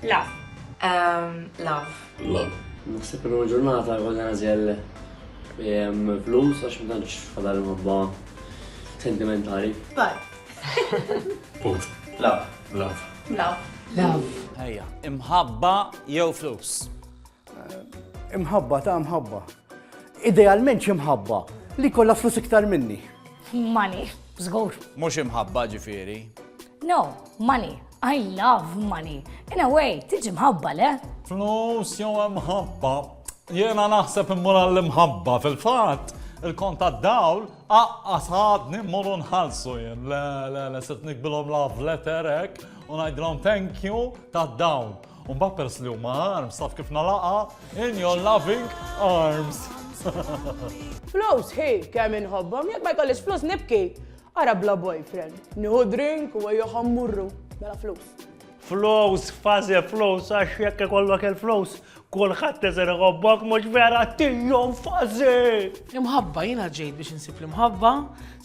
Love. Um, love. Love. Naħseb il ġurnata għodna għazjel flus għax ma tantx fadal mabba sentimentali. But. Put. Love. Love. Love. Love. Ejja, imħabba jew flus. Eh, imħabba ta' imħabba. Idealment imħabba li kollha flus iktar minni. Money, żgur. Mhux imħabba ġifieri. No, money. I love money. In a way, tiġi mħabba, le? Flus jew mħabba. Jena naħseb immur għall-imħabba fil-fatt il-kont tad-dawl, aqqas ħadni mmorru nħalsu jien. Le, le, le, set nikbilhom love letter hekk u ngħidilhom thank you tad-dawl. U mbagħad pers li huma arms taf kif nalaqa in your loving arms. Flus hi kemm inħobbhom, jekk ma jkollix flus nibki. Ara bla boyfriend, nieħu drink u ejjew ħa mmurru, mela flus. Flows, faze flows, għax jekk ikollok il-flows, kulħadd teżer iħobbok mhux vera tijom faze! Imħabba jiena ġejt biex insib l-imħabba,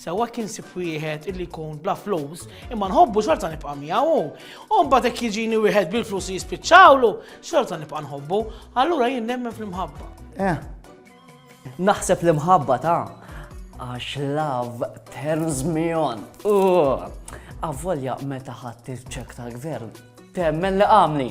sewwa kien sib wieħed illi jkun bla flows, imma nħobbu xorta nibqa' miegħu. U mbagħad hekk jiġini wieħed bil-flus jispiċċawlu, xorta nibqa' nħobbu, allura jien nemmen fl-imħabba. Eh, Naħseb l-imħabba ta' għax love turns me on. Avvolja meta ħadd il-ċek tal-gvern temmen li għamli.